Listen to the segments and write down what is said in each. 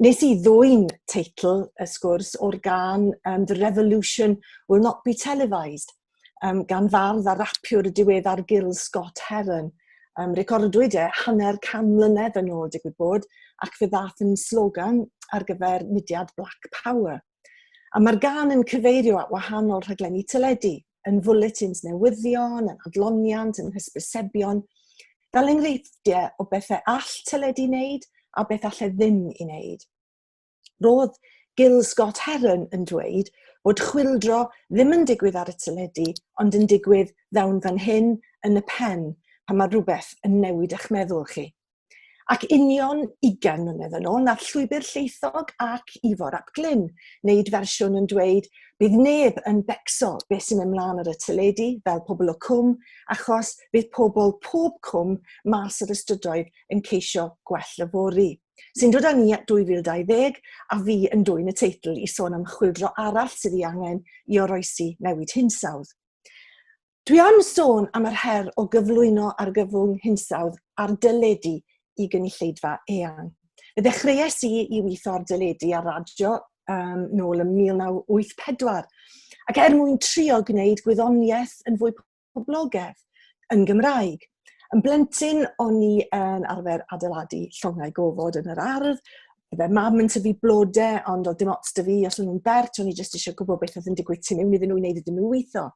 Nes i ddwyn teitl y sgwrs o'r gan um, The Revolution Will Not Be Televised um, gan fardd a rapiwr y diweddar Gil Scott Heron. Um, recordwyd e hanner can mlynedd yn ôl digwydd bod ac fe ddath yn slogan ar gyfer mudiad Black Power. A mae'r gan yn cyfeirio at wahanol rhaglenni teledu, yn fwletins newyddion, yn adloniant, yn hysbysebion, fel enghreifftiau o bethau all teledu wneud a beth allai ddim i wneud. Roedd Gil Scott Heron yn dweud bod chwildro ddim yn digwydd ar y teledu, ond yn digwydd ddawn fan hyn yn y pen pan mae rhywbeth yn newid eich meddwl chi. Ac union ugain mlynedd yn ôl, nath Llwybr Lleithog ac Ifor ap Glyn wneud fersiwn yn dweud bydd neb yn becso beth sy'n mynd mlaen ar y teledu fel pobl o Cwm achos bydd pobl pob cwm mas ar y strydoedd yn ceisio gwell yfory. Sy'n dod â ni at 2020 a fi yn dwyn y teitl i sôn am chwyldro arall sydd ei angen i oroesi newid hinsawdd. Dwi am sôn am yr her o gyflwyno argyfwng hinsawdd ar deledu i gynulleidfa eang. Fe ddechreuais i i weithio ar deledu ar radio um, nôl ym 1984, ac er mwyn trio gwneud gwyddoniaeth yn fwy poblogedd yn Gymraeg. Yn blentyn, o'n i yn arfer adeiladu llongau gofod yn yr ardd. Fe mam yn tyfu blode, ond oedd dim ots dy fi os o'n nhw'n bert, o'n i jyst eisiau gwybod beth oedd yn digwydd tu mewn iddyn nhw i wneud iddyn nhw weithio.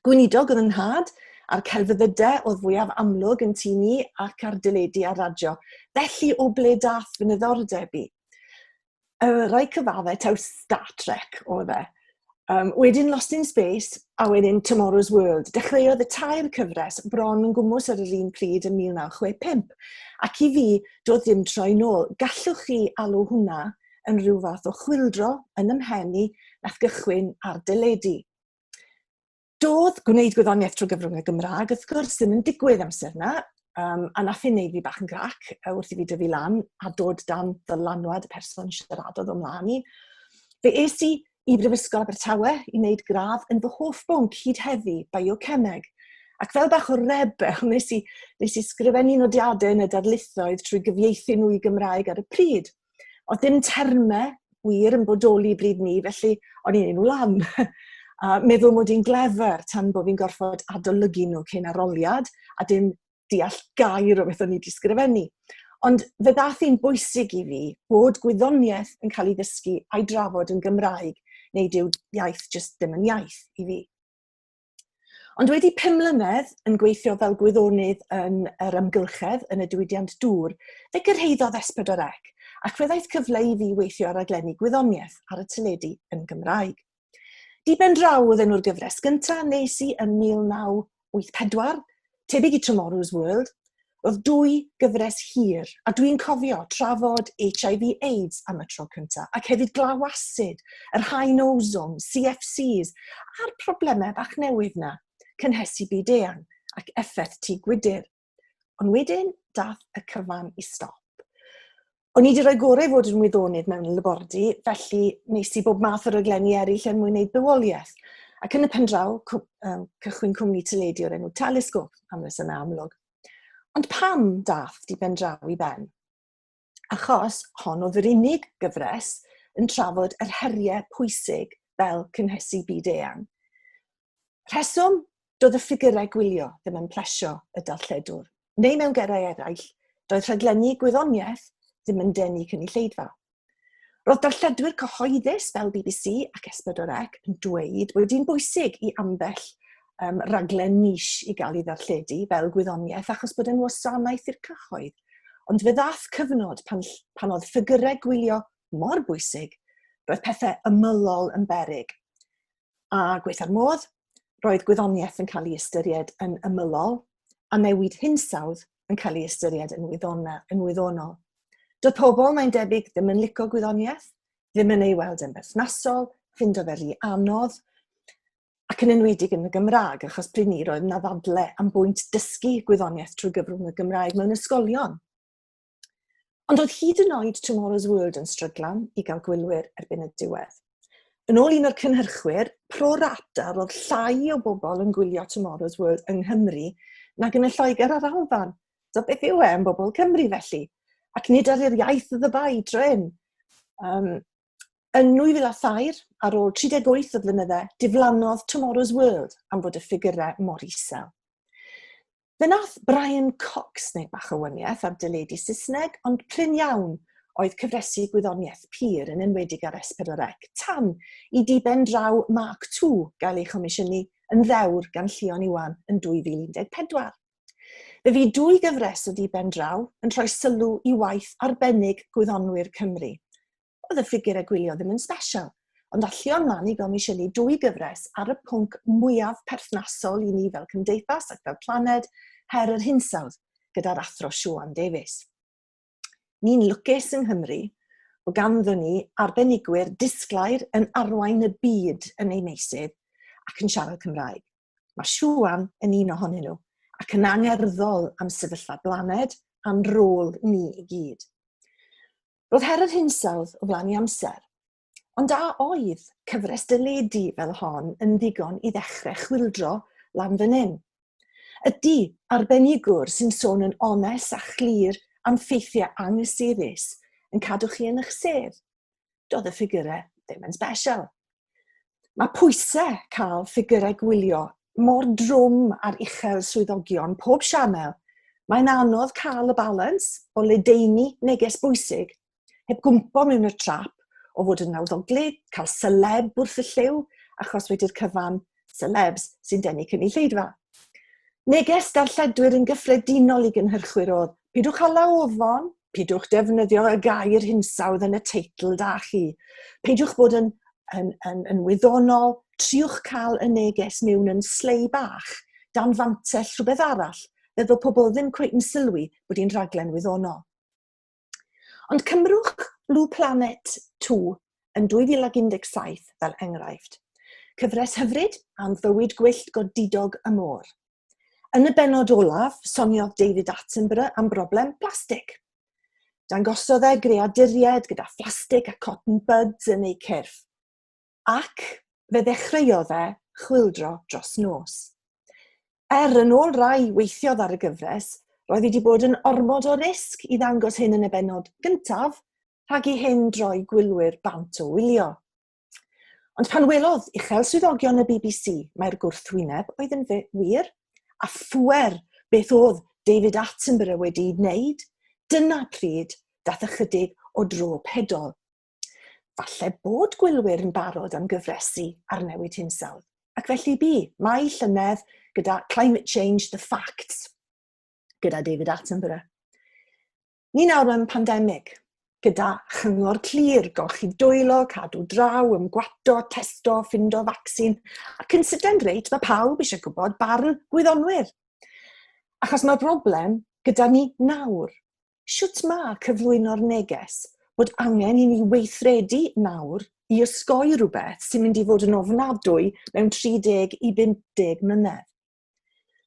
Gweinidog oedd yn nhad, a'r celfyddydau oedd fwyaf amlwg yn tu ni ac ar dyledu a radio. Felly, o ble dath fy niddordeb i? Y rhai cyfaddau taw Star Trek oedd e. Um, wedyn Lost in Space a wedyn Tomorrow's World. Dechreuodd y tair cyfres bron yn gwmwys ar yr un pryd yn 1965. Ac i fi, doedd ddim troi nôl. Gallwch chi alw hwnna yn rhyw fath o chwildro yn ymhen i nath gychwyn ar dyledu. Doedd gwneud gwyddoniaeth trwy gyfrwng y Gymraeg, wrth gwrs, ddim yn digwydd amser yna, um, a nath hyn neud fi bach yn grac wrth i fi dyfu lan a dod dan ddylanwad y person siaradodd o mlaen i. Fe es i i Brifysgol Abertawe i wneud gradd yn fy hoff bwnc hyd heddi, biocemeg. Ac fel bach o rebel, nes i, nes i sgrifennu nodiadau yn y darlithoedd trwy gyfieithu nhw i Gymraeg ar y pryd – Oedd dim termau wir yn bodoli bryd ni, felly o'n i'n ei nhw lan. a meddwl mod i'n glefer tan bod fi'n gorfod adolygu nhw cyn aroliad, a dim deall gair o beth o'n i wedi sgrifennu. Ond fe ddath hi'n bwysig i fi bod gwyddoniaeth yn cael ei ddysgu a'i drafod yn Gymraeg, neu dyw iaith jyst ddim yn iaith i fi. Ond wedi pum mlynedd yn gweithio fel gwyddonydd yn yr ymgylchedd yn y diwydiant dŵr, fe gyrhaeddodd S4C ac fe ddaeth cyfle i fi weithio ar raglenni gwyddoniaeth ar y teledu yn Gymraeg. Diben draw oedd enw'r gyfres gyntaf nes i yn 1984 tebyg i Tomorrow's World, roedd dwy gyfres hir, a dwi'n cofio trafod HIV AIDS am y tro cyntaf, ac hefyd glaw asid, yr haen ozon, CFCs, a'r problemau bach newydd na, cynhesu byd eang ac effaith tŷ gwydr. Ond wedyn, dath y cyfan i stop. o'n i wedi rhoi gorau fod yn wyddonydd mewn labordy, felly nes i bob math o raglenni eraill er mwyn gwneud bywoliaeth. Ac yn y pen draw, um, cychwyn cwmni teledu o'r enw Telesgop, am reswm amlwg. Ond pam dath di pen draw i ben? Achos hon oedd yr unig gyfres yn trafod yr heriau pwysig fel cynhesu byd eang. Rheswm, doedd y ffigurau gwylio ddim yn plesio y darlledwr, neu mewn gerau eraill, doedd rhaglenni gwyddoniaeth ddim yn denu cynulleidfa. Roedd darlledwyr cyhoeddus fel bbc ac S4C yn dweud bod hi'n bwysig i ambell um, raglen niche i gael ei ddarlledu fel gwyddoniaeth achos bod yn wasanaeth i'r cyhoedd. Ond fe ddath cyfnod pan, pan oedd ffigurau gwylio mor bwysig, roedd pethau ymylol yn berig. a gweitha'r modd, roedd gwyddoniaeth yn cael ei ystyried yn ymylol a newid hinsawdd yn cael ei ystyried yn, wyddona, yn wyddonol. Doedd pobl, mae'n debyg, ddim yn licio gwyddoniaeth, ddim yn ei weld yn berthnasol, ffindo fe rhi anodd, ac yn enwedig yn y Gymraeg, achos pryd ni roedd yna ddadle am bwynt dysgu gwyddoniaeth trwy gyfrwng y Gymraeg mewn ysgolion. Ond oedd hyd yn oed Tomorrow's World yn stryglan i gael gwylwyr erbyn y diwedd. Yn ôl un o'r cynhyrchwyr, pro rata roedd llai o bobl yn gwylio Tomorrow's World yng Nghymru nag yn y Lloegr a'r Alban. So beth yw e yn bobl Cymru felly? Ac nid ar yr iaith y ddybai dryn. Um, yn 2003, ar ôl 38 o flynydde, diflannodd Tomorrow's World am fod y ffigurau mor isel. Fe wnaeth Brian Cox wneud bach o wyniaeth ar deledu Saesneg, ond prin iawn oedd cyfresi gwyddoniaeth pur, yn enwedig ar S4C, tan i diben draw Mark ii gael ei chomisiynu yn ddewr gan Llion Iwan yn 2014. Fe fu dwy gyfres o diben draw yn rhoi sylw i waith arbennig gwyddonwyr Cymru, oedd y ffigur a gwylio ddim yn sbesial, ond alluon Mani gomisiynu dwy gyfres ar y pwnc mwyaf perthnasol i ni fel cymdeithas ac fel planed, her yr hinsawdd, gyda'r athro Siwan Davies. Ni'n lwcus yng Nghymru o ganddon ni arbenigwyr disglair yn arwain y byd yn ei meysydd ac yn siarad Cymraeg. Mae Siwan yn un ohonyn nhw ac yn angerddol am sefyllfa blaned a'n rôl ni i gyd. Roedd her yr hinsawdd o flaen i amser. Ond a oedd cyfres dyledu fel hon yn ddigon i ddechrau chwildro lan fan hyn? Ydy, arbenigwr sy'n sôn yn onest a chlir am ffeithiau anghysurus yn cadw chi yn eich sedd? Doedd y ffigurau ddim yn special. Mae pwysau cael ffigurau gwylio mor drwm ar uchel swyddogion pob sianel, mae'n anodd cael y balans o ledaenu neges bwysig heb gwmpo mewn y trap o fod yn nawddoglyd, cael seleb wrth y lliw, achos wedi'r cyfan selebs sy'n denu cynulleidfa. Neges darlledwyr yn gyffredinol i gynhyrchwyr oedd, pidwch hala ofon, peidiwch defnyddio y gair hinsawdd yn y teitl da chi. Peidiwch bod yn, yn, yn, yn wyddonol, triwch cael y neges mewn yn slei bach, dan fantell rhywbeth arall, fe ddo pobl ddim cweith yn sylwi bod hi'n rhaglen wyddonol. Ond cymrwch Blue Planet 2 yn 2017 fel enghraifft. Cyfres hyfryd am fywyd gwyllt godidog y môr. Yn y benod olaf, soniodd David Attenborough am broblem plastig. Dangosodd e greaduriaid gyda phlastig a cotton buds yn eu cyrff. Ac fe ddechreuodd e chwildro dros nos. Er yn ôl rai weithiodd ar y gyfres, roedd wedi bod yn ormod o risg i ddangos hyn yn y benod gyntaf rhag i hyn droi gwylwyr bant o wylio. Ond pan welodd uchel swyddogion y BBC mae'r gwrthwyneb oedd yn wir, a phwer beth oedd David Attenborough wedi'i wneud, dyna pryd dath ychydig o dro pedol. Falle bod gwylwyr yn barod am gyfresu ar newid hinsawdd, ac felly bu, mae llynedd gyda Climate Change, The Facts, gyda David Attenborough. Ni nawr mewn pandemig, gyda chyngor clir, golchi dwylo, cadw draw, ymgwato, testo, ffindo vaccin, ac yn sydyn reit, mae pawb eisiau gwybod barn gwyddonwyr. Achos mae'r broblem gyda ni nawr. Sut mae cyflwyno'r neges bod angen i ni weithredu nawr i ysgoi rhywbeth sy'n mynd i fod yn ofnadwy mewn 30 i 50 mlynedd.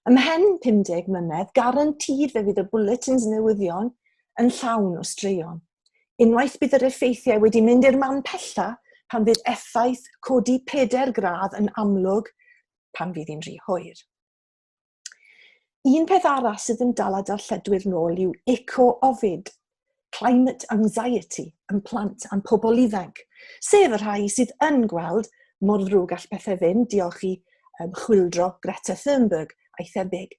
Ymhen 50 mlynedd, garantid fe fydd y bulletins newyddion yn llawn o straeon. Unwaith bydd yr effeithiau wedi mynd i'r man pella pan fydd effaith codi peder gradd yn amlwg pan fydd hi'n rhy hwyr. Un peth arall sydd yn dal a darlledwyr nôl yw eco-ofid, climate anxiety yn plant a'n pobl ifanc, sef y rhai sydd yn gweld mor ddrwg all pethau fynd, diolch i um, chwildro Greta Thunberg a'i thebyg.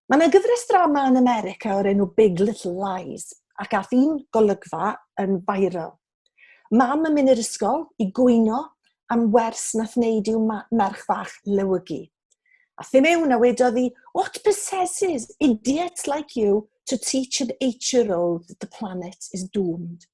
Mae yna gyfres drama yn America o'r enw Big Little Lies, ac ath un golygfa yn viral. Mam yn mynd i'r ysgol i gwyno am wers nath wneud i'w merch fach lewygu. A thi mewn a wedodd hi, what possesses idiots like you to teach an eight-year-old that the planet is doomed?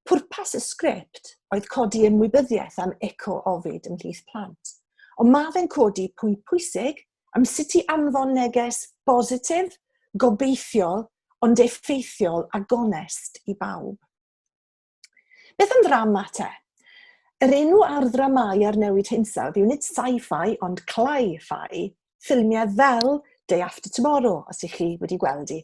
Pwrpas y sgript oedd codi ymwybyddiaeth am eco-ofid ymhlith plant, ond mae fe'n codi pwynt pwysig am sut i anfon neges bositif, gobeithiol, ond effeithiol a gonest i bawb. Beth am ddrama te? Yr enw ar ddramau ar newid hinsawdd yw nid sci-fi ond cli-fi, ffilmiau fel Day After Tomorrow, os ych chi wedi gweld i.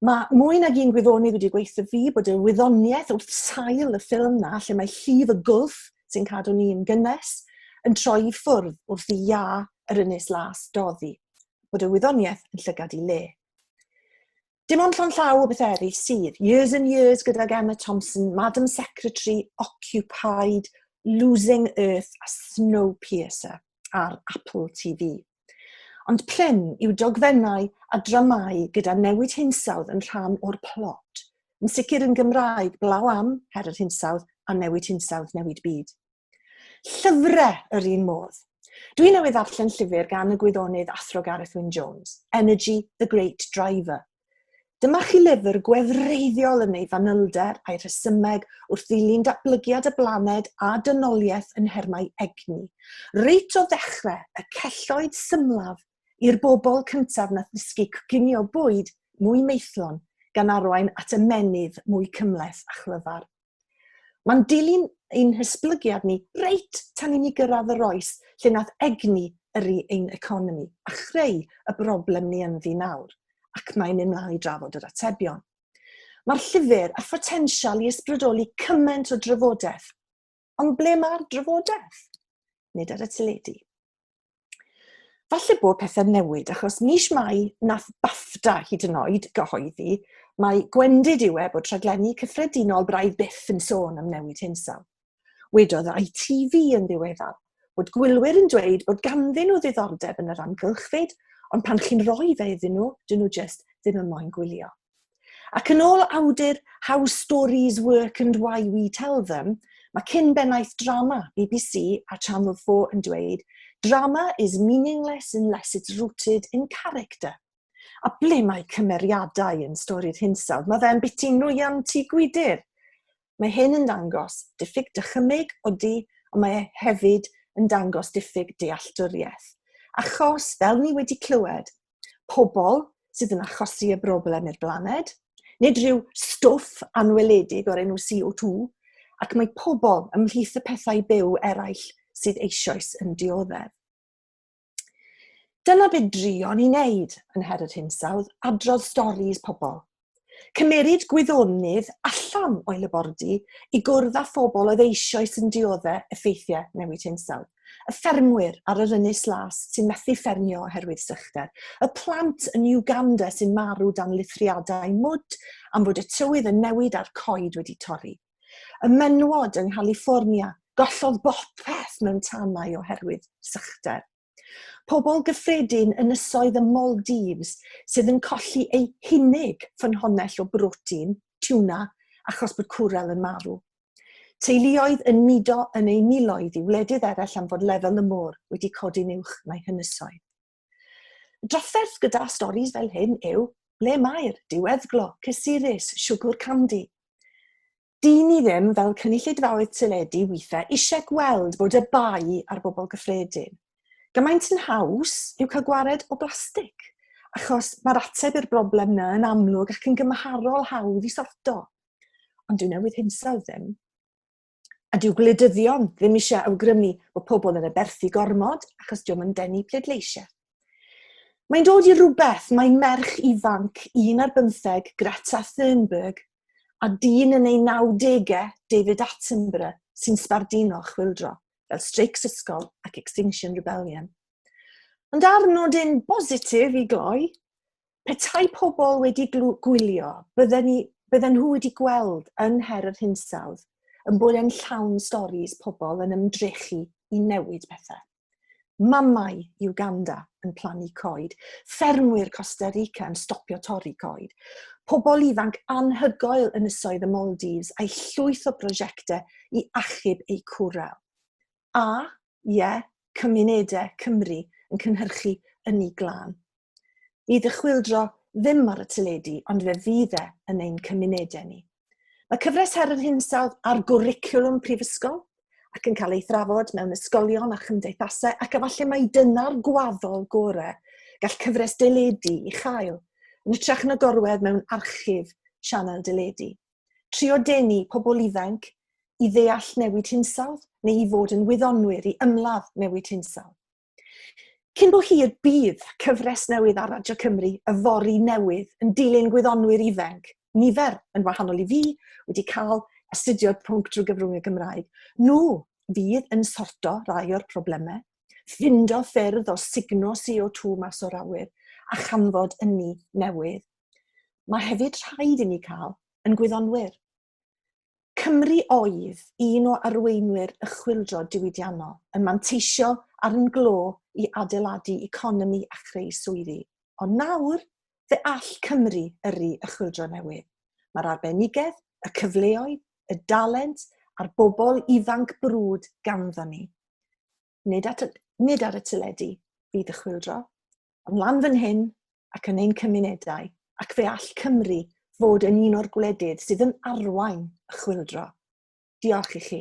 Mae mwy nag un gwyddonydd wedi gweithio fi bod y wyddoniaeth wrth sail y ffilm na, lle mae llif y gwlff sy'n cadw ni'n gynnes, yn troi i ffwrdd wrth i iâ yr ynys las doddi, bod y wyddoniaeth yn llygad i le. Dim ond llon llaw o bethau eraill sydd. Years and Years gydag Emma Thompson, Madam Secretary, Occupied, Losing Earth a Snowpiercer ar Apple TV. Ond plum yw dogfennau a dramâu gyda newid hinsawdd yn rhan o'r plot. Yn sicr yn Gymraeg, blaw am, her yr hinsawdd, a newid hinsawdd, newid byd. Llyfrau yr un modd. Dwi newydd ddarllen llyfr gan y gwyddonydd athro Gareth Wyn Jones, Energy, the Great Driver, Dyma chi lyfr gwefreiddiol yn ei fanylder a'i rhesymeg wrth ddilyn datblygiad y blaned a dynoliaeth yn nhermau egni. Reit o ddechrau, y celloedd symlaf i'r bobl cyntaf na ddysgu coginio bwyd mwy maethlon, gan arwain at ymennydd mwy cymhleth a chlyfar. Mae'n dilyn ein hysblygiad ni reit tan i ni gyrraedd yr oes lle nath egni yrru ein economi a chreu y broblem ni ynddi nawr, ac mae mynd mlaen i drafod yr atebion. Mae'r llyfr a photensial i ysbrydoli cymaint o drafodaeth. Ond ble mae'r drafodaeth? Nid ar y teledu. Falle bod pethau'n newid, achos mis Mai nath BAFTA hyd yn oed gyhoeddi mae gwendid yw e bod rhaglenni cyffredinol braidd byth yn sôn am newid hinsawdd. Wedodd ITV yn ddiweddar bod gwylwyr yn dweud bod ganddyn nhw ddiddordeb yn yr amgylchfyd, ond pan chi'n rhoi fe iddyn nhw, dyn nhw jyst ddim yn moyn gwylio. Ac yn ôl awdur How Stories Work and Why We Tell Them, mae cyn bennaeth drama BBC a Channel 4 yn dweud, Drama is meaningless unless it's rooted in character. A ble mae cymeriadau yn stori'r hinsawdd? Mae fe'n biti nwyan tu gwydir. Mae hyn yn dangos diffyg dychymyg odi, ond mae e hefyd yn dangos diffyg dealltwriaeth. Achos, fel ni wedi clywed, pobl sydd yn achosi y broblem i'r blaned, nid rhyw stwff anweledig o'r enw CO2, ac mae pobl ymhlith y pethau byw eraill sydd eisoes yn dioddef. Dyna beth drion i wneud yn Her yr Hinsawdd, adrodd storis pobl, Cymeryd gwyddonydd allan o'i labordy i gwrdd â phobl oedd eisoes yn diodde' effeithiau newid hinsawdd. Y ffermwyr ar yr Ynys Las sy'n methu ffermio oherwydd sychder. Y plant yn Uganda sy'n marw dan lithriadau mwd am fod y tywydd yn newid a'r coed wedi torri. Y menywod yng Nghaliffornia, gollodd bopeth mewn tanau oherwydd sychder. Pobl gyffredin ynysoedd y Maldives sydd yn colli eu hunig ffynhonnell o brotein, tiwna, achos bod cwrel yn marw. Teuluoedd yn mudo yn eu miloedd i wledydd eraill am fod lefel y môr wedi codi'n uwch na'i hynysoedd. Y drafferth gyda storis fel hyn yw ble mae'r diweddglo, cysurus, siwgwr candi. Dyn ni ddim, fel cynulleidfaoedd teledu weithiau, eisiau gweld bod y bai ar bobl gyffredin. Gymaint yn haws yw cael gwared o blastig, achos mae'r ateb i'r broblem yna yn amlwg ac yn gymharol hawdd i sorto. Ond dyw newydd hinsawdd ddim. A dyw gwleidyddion ddim eisiau awgrymu bod pobl yn y berthu gormod achos diwm yn denu pleidleisiau. Mae'n dod i rhywbeth, mae merch ifanc, un ar bymtheg, Greta Thunberg, a dyn yn ei nawdegau, David Attenborough, sy'n sbardino chwildro, fel streics ysgol ac Extinction Rebellion. Ond ar nodyn bositif i gloi, petai pobl wedi gwylio, bydden, ni, bydden nhw wedi gweld yn her yr hinsawdd yn bod e'n llawn storys pobl yn ymdrechu i newid pethau. Mamau Uganda yn plannu coed, ffermwyr Costa Rica yn stopio torri coed, pobl ifanc anhygoel yn ysoedd y Maldives a'i llwyth o brosiectau i achub eu cwrel. A, ie, yeah, cymunedau Cymru yn cynhyrchu ynni glân. Bydd y chwildro ddim ar y teledu, ond fe fydd e yn ein cymunedau ni. Mae cyfres her yr hinsawdd ar gwricwlwm prifysgol ac yn cael ei thrafod mewn ysgolion a chymdeithasau ac efallai mai dyna'r gwaddol gorau gall cyfres deledu i chael, yn ytrach na gorwedd mewn archif sianel deledu. Trio denu pobl ifanc i ddeall newid hinsawdd neu i fod yn wyddonwyr i ymladd newid hinsawdd. Cyn bo hir bydd cyfres newydd ar Radio Cymru y fori newydd yn dilyn gwyddonwyr ifenc, nifer yn wahanol i fi, wedi cael astudio'r pwnc drwy gyfrwng y Gymraeg. Nhw fydd yn sorto rai o'r problemau, ffindo ffyrdd o sugno CO2 mas o'r awyr a chanfod ynni newydd. Mae hefyd rhaid i ni cael yn gwyddonwyr. Cymru oedd un o arweinwyr y chwyldro diwydiannol, yn manteisio ar yn glo i adeiladu economi a chreu swyddi. Ond nawr, fe all Cymru yrru y chwyldro newydd. Mae'r arbenigedd, y cyfleoedd, y dalent a'r bobl ifanc brwd ganddo ni. nid, at, nid ar y teledu fydd y chwildro, ond lan fan hyn ac yn ein cymunedau, ac fe all Cymru fod yn un o'r gwledydd sydd yn arwain y chwildro. Diolch i chi.